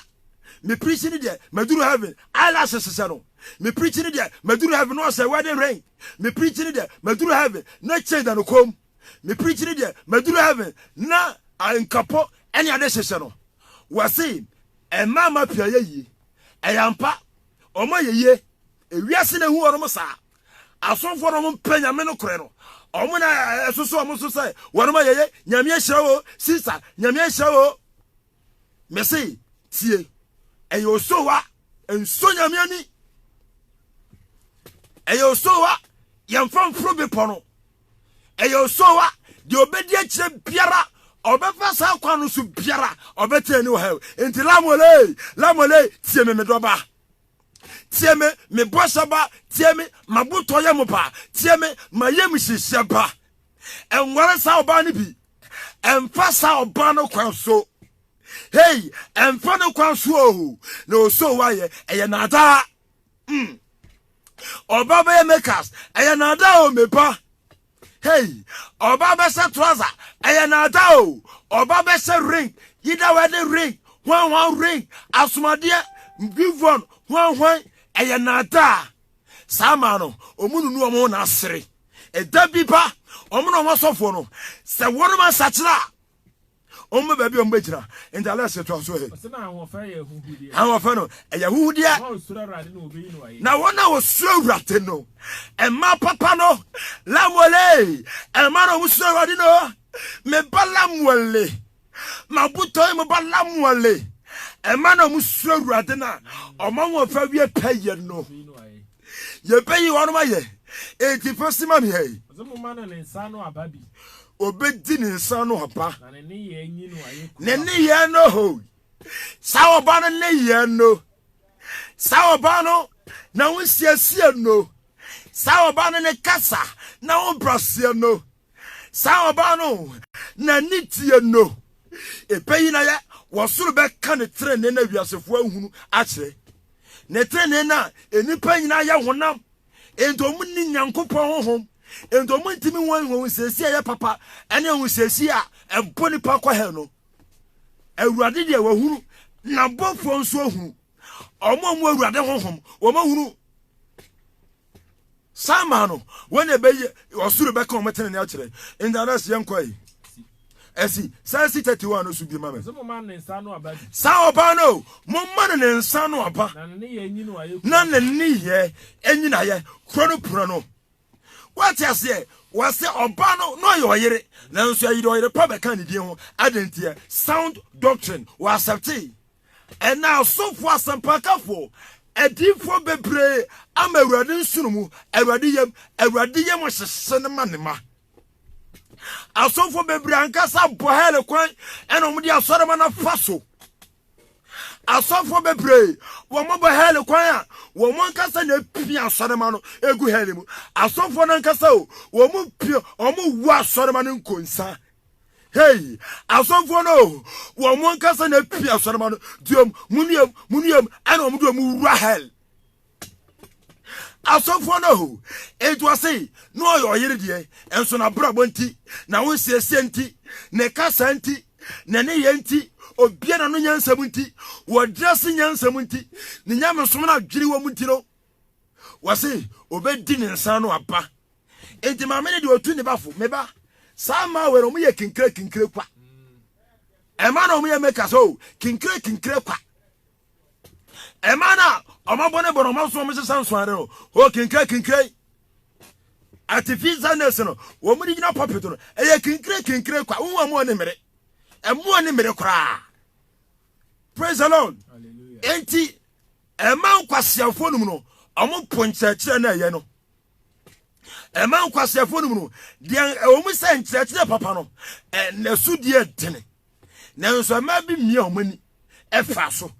me preach ne deɛ maduru heaven eyelash hyehyɛ no me preach ne deɛ maduru heaven na ɔhyɛ wedding ring me preach ne deɛ maduru heaven na chain da no kɔn mu. me preach ne deɛ maduru heaven na nkapo ɛne ade hyehyɛ no wɔse ɛmaa ma pia yɛ yie ɛyɛ ampa ɔma yɛ yie ewiase na ehu wɔn saa asomfoɔ na wɔn mpɛ nyame no korɛ no wɔn na ɛsoso wɔn so sɛ wɔn ma yɛ yɛ nyame ahyira wo sista nyame ahyira wo mese tie ɛyɛ osowa nso nyame ani ɛyɛ osowa yɛmfa mforo bepɔ no ɛyɛ osowa deɛ ɔbɛdi akyirɛ biara ɔbɛfa saa kwan no so biara ɔbɛte ani wɔ ha nti lamole lamole tie me medɔba tie me mebɔhyɛ ba tie me mabotɔ yɛ mo ba tie me mayɛ me hyehyɛ ba ɛnware saa ɔbaa no bi ɛmfa saa ɔbaa no kwan so hei ɛmfa no kwan so o na ɔsoo wayɛ ɛyɛ naadaa mm. ɔba bɛyɛ makers ɛyɛ naadaa o meba hei ɔba bɛhyɛ trouser ɛyɛ naadaa o ɔba bɛhyɛ ring yida wedding ring hwanhwan ring asomadeɛ bivon hwanhwan ɛyɛ naadaa Saa mmaa no, wɔnunu wɔn ho na sere. Ɛda bi ba, wɔn na wɔn asɔfoɔ no, sɛ wɔnom asakyera a, wɔn bɛ baabi a wɔn bɛgyina. Nti Alex to aso he. Ɔsɛ na ahoɔfɛ yɛ ahuhudeɛ. Ahoɔfɛ no, ɛyɛ ahuhudeɛ. Wɔn a wɔsuro Awurade no, wɔbɛyi no ayɛ. Na wɔn a wɔsuro Awurade no, mmaa papa no, Lamuɛl ee, mmaa na wɔsuro Awurade no, me ba Lamuɛl ee. M'abotɔe mu ba Lamuɛl, ɛma na wɔsuro Awurade na ɔma wɔn fa wie pɛyɛ no. Yɛbɛyi wɔn ayɛ, enti fa si ma me ha yi. Obedi ne nsa ano aba. Ne nneyɛɛ no ho. Saa ɔbaa no nneyɛɛ no. Saa ɔbaa no na wosiesie no. Saa ɔbaa no ne kasa na wobraseɛ no. Saa ɔbaa no na ne deɛ no, ɛbɛyi na yɛ wɔ soro bɛka ne trenee na wiasefoɔ ahunu akyerɛ. Ne trenee na nnipa nyinaa yɛ honam, enti wɔn nni Nyankopɔn honhom, enti wɔn ntumi wɔn ahunhunseesie a ɛyɛ papa ɛne ahunhunseesie a ɛbɔ nipa kɔ hɛ no. Awurade deɛ wɔahunu, n'abɔfoɔ nso ahunu. Wɔn a wɔn Awurade honhom, wɔn ahunu. saa maa no wɔn na ɛbɛyɛ ɔsoro bɛka wɔn tene ne akyerɛ ntadas yɛn kɔ yi ɛsi saa si tɛti wa no so bi ma mi saa ɔbaa no mo ma no ne nsa no aba na ne ne yɛ ɛnyina yɛ kuro no pura no wɔte aseɛ wɔsɛ ɔbaa no na ɔyɛ ɔyere nanso ɛyɛ ɔyere pa bɛka ne din ho adanteɛ sound doctrine wɔ asɛpte. Ɛnnɛ asɔfo, asɛmpakafo, adiyifo bebree ama Awurade nsono mu, Awurade yam, Awurade yam ɔhyehye no ma ne ma. Asɔfo bebree ankasa bɔ hɛl kwan ɛna wɔn de asɔrema no afa so. Asɔfo bebree wɔn bɔ hɛl kwan a wɔn ankasa na epia asɔrema no egu hɛl mu. Asɔfo no ankasa o wɔn pia wɔn wɔ asɔrema no nkonsa Hey, asɔfoɔ no o, wɔn ankasa na apia asɔrema no, diom, munuam, munuam, ɛna wɔn de wɔn wura hell. Asɔfoɔ no o, etu ase na ɔyɛ ɔyere deɛ, nso na brabɔ nti, na ho nsiesie nti, ne kasa nti, ne ne yɛ nti, obia na no nyansam nti, wɔdrɛse nyansam nti, ne nyamesom no adwene wɔn nti no, wɔse obɛdi ne nsa no aba enti maame no deɛ ɔtu ne ba fo meba saa mmaa wei no ɔmo yɛ kinkire kinkire kwa ɛma na ɔmo yɛ meka sɛ o kinkire kinkire kwa ɛma na ɔmo abɔ ne bɔ na ɔmo aso ɔmo hyehyɛ nsoade no o kinkire kinkire artificial nurse no wɔn de gyina pulpit no ɛyɛ kinkire kinkire kwa wɔn a wɔn ne mmere ɛmoa ne mmere koraa praise the lord eti Ɛma nkwaseafoɔ nom no ɔmo po nkyerɛkyerɛ no a ɛyɛ no. Ɛma nkwaseafoɔ nom no deɛ ɛwɔ mu sɛ nkyerɛkyerɛ papa no ɛso deɛ ɛdene nanso ɛma bi mmea ɔmo ani ɛfa so.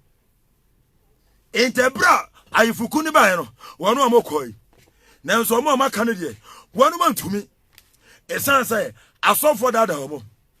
Nti ɛberɛ a ayefoku no baeɛ no wɔn a wɔkɔe nanso wɔn a wɔaka no deɛ wɔn antumi ɛsiane sɛ asɔfoɔ daadaa wɔn.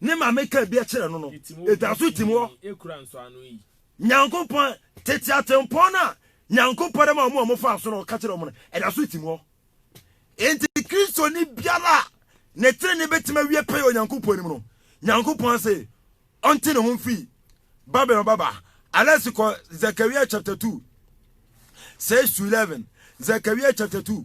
Ne maame kaa bi kyerɛ no no, ɛda so tim hɔ. Nyankopɔn, tete atempɔn no a Nyankopɔn de ma wɔn a wɔfaa so na ɔka kyerɛ wɔn no, ɛda so tim hɔ. Enti Kristoni biara a ne trenee bɛtumi awie pɛyɛ Onyankopɔn anim no, Nyankopɔn se ɔnte ne ho mfi Babilon babaa. Alex kɔ Zechariah chapter 2 6 to 11. Zechariah chapter 2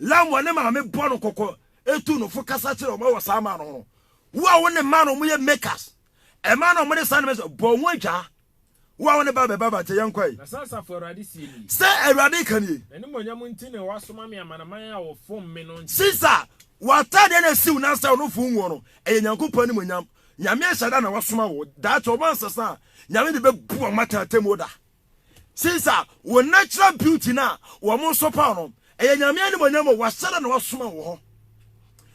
Lam wɔ ne maame bɔ no kɔkɔ tu no fo kasa kyerɛ wɔn wɔ saa mmaa no ho. Wo a wo ne mmaa no wɔyɛ makers, mmaa no wɔde saa nneɛma bɔ wɔn adwaa. Wo a wo ne ba bɛba ba nkyɛn yɛn nkɔ yi. Na sɛ asafo Awurade sie nie. Sɛ Awurade ka nie. N'animuonyam nti na wasoma me amanaman a wɔfom me no nkyɛn. Sisa, w'ataadeɛ na siw na sɛ ɔno fom woɔ no, ɛyɛ Nyankopɔn animuonyam. Nyame ahyɛda na wasoma wo. Daakye wɔn ansesa a, Nyame de bɛbu wɔn atɛn atemmuo da. Since a wo natural beauty na wɔn nso paw no, ɛyɛ nyame animonyam o, wahyɛ da na wasoma wɔ hɔ.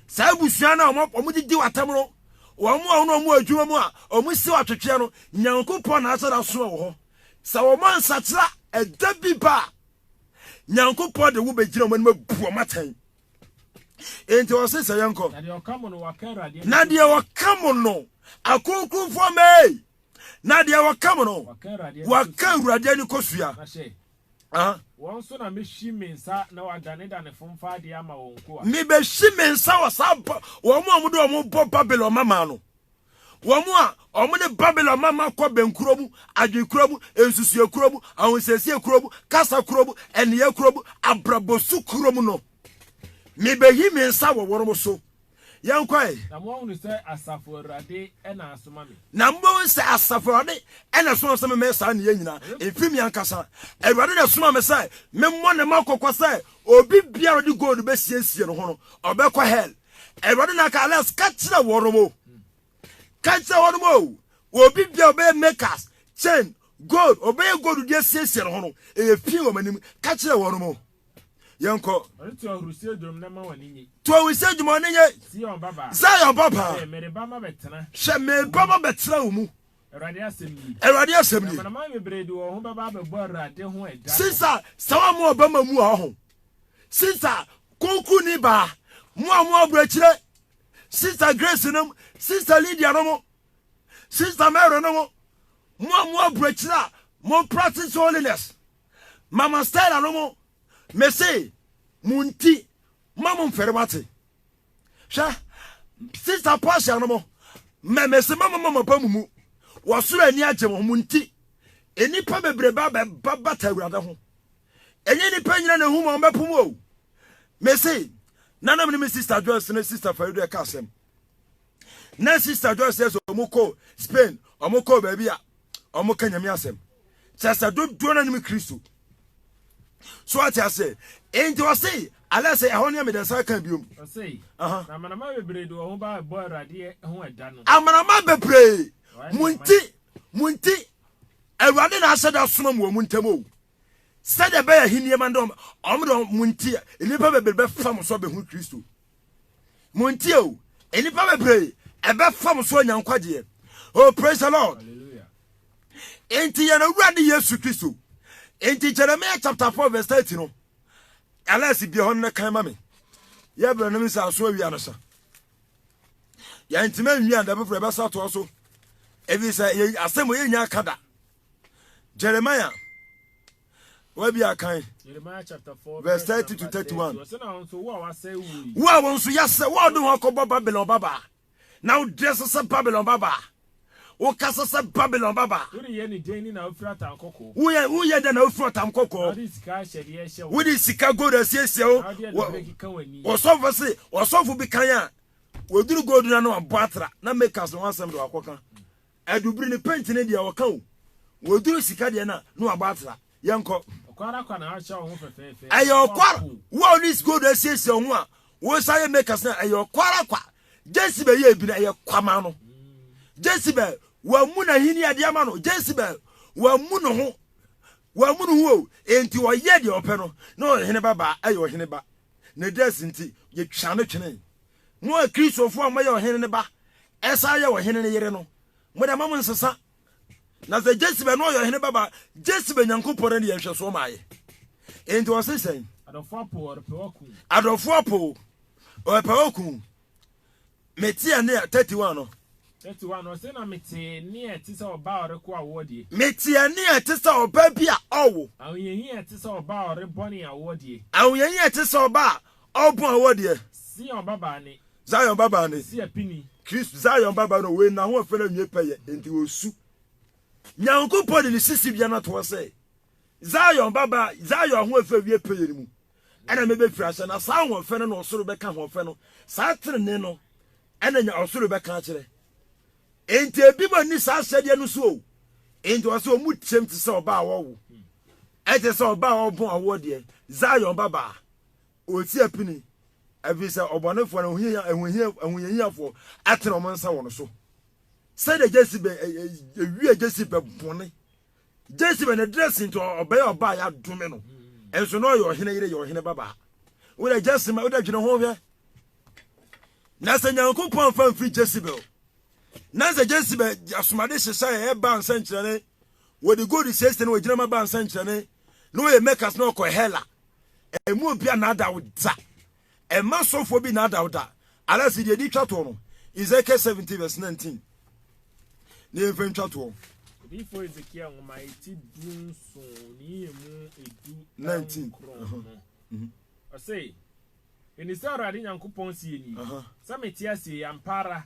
Saa abusua no a wɔn didi w'atam no, wɔn a wɔn wɔn adwuma mu a wɔn si atwetweɛ no, Nyankopɔn na ahyɛ da asoma wɔ hɔ. Sɛ wɔn ansakyera ɛda bi ba a, Nyankopɔn de wo bɛgyina wɔn anim abu wɔn atɛn. Enti wɔse sɛ yɛnkɔ. Na deɛ wɔka mo no, akonkonfoɔ mɛɛ. na deɛ wɔka mu no wɔka awurade ani kɔsua mebɛhyi me nsa wɔ saa wɔn a wɔde wɔn bɔ babylon mama no wɔn a wɔn ne babylon mama kɔ bɛnkuro mu adwenkuro mu nsusuɛ kuro mu ahosiesie kuro mu kasa kuro mu ɛneyɛ kuro mu abrabɔsu kuro mu no mebɛhi me nsa wɔ wɔn so Yɛn kɔɛ. Na mo ahunu sɛ asafo awurade ɛna asoma mi. Na mo bɛhu sɛ asafo awurade ɛna asoma mi sɛ memɛ saa neyɛ nyina mfiri mi ankasa awurade na asoma mi sɛ memmɔ ne ma kɔkɔ sɛ obi biara ɔde gold bɛsiesie ne ho no ɔbɛkɔ hell awurade na aka alas ka kyerɛ wɔn mo ka kyerɛ wɔn mo obi biara ɔbɛyɛ makers chain gold ɔbɛyɛ gold deɛ siesie ne ho no ɛyɛ fii wɔn anim ka kyerɛ wɔn mo yɛn kɔ. Ɔno to ahurisie dwom na ma wɔn ani nye. To ahurisie dwom wɔn ani nye. Zion baba. Zion baba. Hwɛ mereba ma bɛtena. Hwɛ mereba ma bɛtena wɔn mu. Awurade asɛm nie. Awurade asɛm nie. Amanaman bebree de wɔn ho bɛba abɛbɔ Awurade ho ɛda. Sinsa sɛ wɔn mu ɔbɛma mu a ɔho. Sinsa kunkun ni baa mu a wɔn aburokyire. Sinsa Grace nom sinsa Lydia nom sinsa Mary nom mu a wɔn aburokyire a wɔn practice holiness. Mama Stella no mo mese mo nti ma mo mfɛre wate hwɛ sister Portia no mo mɛ mese ma mo ma mo ba mo mu wɔsoro ani agye mo mo nti nnipa bebrebe abɛba bata awurade ho ɛnyɛ nnipa nyina na ɛhu ma ɔmbɛpo mu o mese nanam ne me sister Joyce ne sister Farido ɛka asɛm na sister joy sɛ sɛ ɔmo kɔ spain ɔmo kɔ baabi a ɔmo ka nyame asɛm kyɛ sɛ dodoɔ no anim kristo so ate ase nti ɔse alɛ sɛ ɛhɔ ne mede nsa ka biom amanama bebree mo nti mo nti awurade na ahyɛ da soma mu wɔ mo ntam o sɛdeɛ bɛyɛ he nneɛma dɔm ɔmo dɔm mo nti nnipa bebree bɛfa mo so abɛhu kristo Montie o, nnipa bebree ɛbɛfam so anya nkwagyeɛ. Oh, praise the Lord. Enti yɛn awurade Yesu Kristo. Enti Jeremiah chapter 4 verse 30 no, alɛse bie hɔ no kan ma me. Yɛ berɛ no me sɛ aso awia no sa. Yɛntimi anwia da foforɔ ɛbɛsa toa so. Ɛfiri sɛ asɛm yɛnya aka da. Jeremiah wabi akan verse thirty to thirty one wo a wɔn nso yasɛ wo a ɔde ho akɔbɔ babylon babaa na wo dress sɛ babylon babaa wo kasa sɛ babylon babaa woyɛ woyɛ dɛ na wofiri ɔtam kɔkɔɔ wode sika gold asiesie wo ɔsɔfo se ɔsɔfo bi kan a wɔduru gold no ano abɔ atra na makas no ho asɛm de wakɔka Adu bere no paint no deɛ ɔka o wɔduru sika deɛ na na wabɔ atra yɛnkɔ. Ɔkwara kwa na ahyɛ ɔho fɛfɛɛfɛ. Ɛyɛ ɔkwara wo a ɔne is gold asiesie ɔho a wosa yɛ makers na ɛyɛ ɔkwara kwa Jezebel yɛ ebi na ɛyɛ kwa ma no Jezebel wɔamu n'ahenni ade ama no Jezebel wɔamu no ho wɔamu no ho o enti ɔyɛ deɛ ɔpɛ no na ɔhene ba baa ɛyɛ ɔhene ba ne dress nti yɛtwa no twene Mo a Kristofo a moyɛ ɔhene no ba san yɛ ɔhene no yere no, mo de, mma mo nsesa. Na sɛ Jesibe na ɔyɛ ɔhene ba ba a, Jesibe Nyankopɔn no de yɛ nhwɛsoɔ ma yɛ. Enti ɔse sɛn? Adɔfo apow, ɔrepɛ oku. Adɔfo apow, ɔrepɛ oku. Mete ɛnne a, 31 no. 31 no, ɔse, Na mete ɛnne a ɛte sɛ ɔba a ɔreko awoɔ deɛ. Mete ɛnne a ɛte sɛ ɔba bi a ɔwo. Ahohiahia a ɛte sɛ ɔba a ɔrebɔ ne awoɔ deɛ. Ahohiahia a ɛte sɛ ɔba a Ɔpon a ɔwɔ deɛ. Zion babaa ne. Zion babaa ne. Kristo apini. Kristo Zion babaa no wei na ho ɔfɛ na nwie pɛyɛ nti osu. Nyankopɔn de ne sisi bia no toɔ sɛ Zion babaa Zion ho ɔfɛ wie pɛyɛ no mu ɛna mebɛfiri ahyɛ na saa ho ɔfɛ no na ɔsoro bɛka ho ɔfɛ no saa tenene no ɛna nya ɔsoro bɛka akyerɛ enti ebi ma ni saa ahyɛdeɛ no so o enti ɔsɛ ɔmu tiam te sɛ ɔbaa wɔwo ɛte sɛ ɔbaa ɔbɔn awoɔ deɛ Zion babaa Ɔresi apini, ɛfiri sɛ ɔbɔnefoɔ no ahohiahiafoɔ atene wɔn nsa wɔn so. Sɛdeɛ Jezebel ɛwia Jezebel bɔne. Jezebel ne dressing nti ɔbɛyɛ ɔbaa yɛadome no. Nso na ɔyɛ ɔhene yere yɛ ɔhene babaa. Wodɛ Jezebel wodɛ dwene ho hwɛ. Na sɛ Nyankopɔn amfa mfiri Jezebel. Na sɛ Jezebel asomade hyehyɛ yɛ baa nsɛnkyerɛne. Wɔde gold siesie na wɔgyina ma baa nsɛnkyerɛne. Na wɔyɛ makers na wɔkɔ Hela. ɛmu obi a nada wo da ɛma sɔfoɔ bi nada wo da anase deɛ di twa toɔ no Ezekiel 17 verse 19 ne yɛmfa ntwa toɔ odiyifoɔ Ezekiel nwoma ɛti du nso ne yɛmu ɛdu 19 ɔse ɛni sɛ awurade nyankopɔn sie ni sɛ mete asie yɛ ampara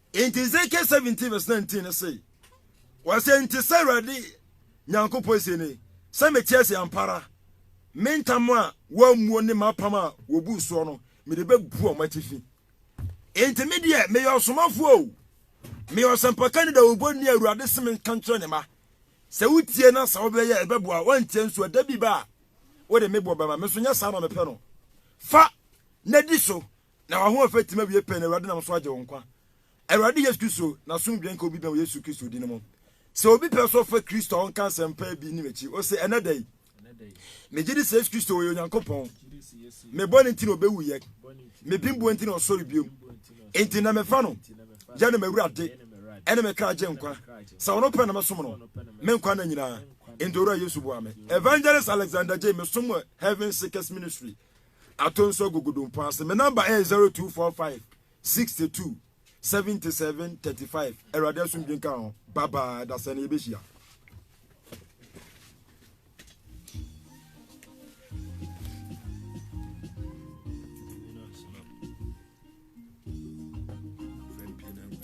Enti Ezekiel 17 vs 19 no se, Wɔse, Enti sɛ Awurade Nyankopɔn se ni, sɛ mete ase ampa ara, me ntam a wɔammuo ne m'apam a wɔbuu soɔ no, mede bɛbu wɔn atifi. Enti me deɛ, meyɛ ɔsomafoɔ o, meyɛ ɔsɛmpakani dawurubɔni a Awurade se menka nkyerɛ ne mma, sɛ wotie na sɛ wobɛyɛ ɛbɛboa, woantie nso a, da bi ba a wode me boɔ bɛma me nso, nyɛ saa na mepɛ no. Fa, na di so, Na w'ahoɔfɛ tim awiei pɛɛ na Awurade nam so agye wo nkwa. Awurade Yesu Kristo, n'asomdwoe nka obi bɛn wɔ Yesu Kristo din mu. Sɛ obi pɛ sɛ ɔfa Kristo a ɔnka asɛmpa bi nni m'akyi, ose, Ɛnnɛ da yi, megye di sɛ Yesu Kristo ɔyɛ Onyankopɔn. Me bɔne nti na ɔbɛwuiɛ. Me bembuo nti na ɔsɔre biom. Enti nnɛ mefa no yɛ no m'Awurade ɛne me kra gye nkwa. Sɛ ɔno pɛ na mɛsom no me nkwa nna nyinaa. Enti Owura Yesu boa me. Evangelist Alexander Jay, Mesom wɔ Heaven Seekers Ministry. Ato nso agugu dompo ase. Me number ɛyɛ zero two four five sixty two seventy seven thirty five. Awurade asomdwe nka ho. Bye bye. Dasɛ na yɛbɛhyia.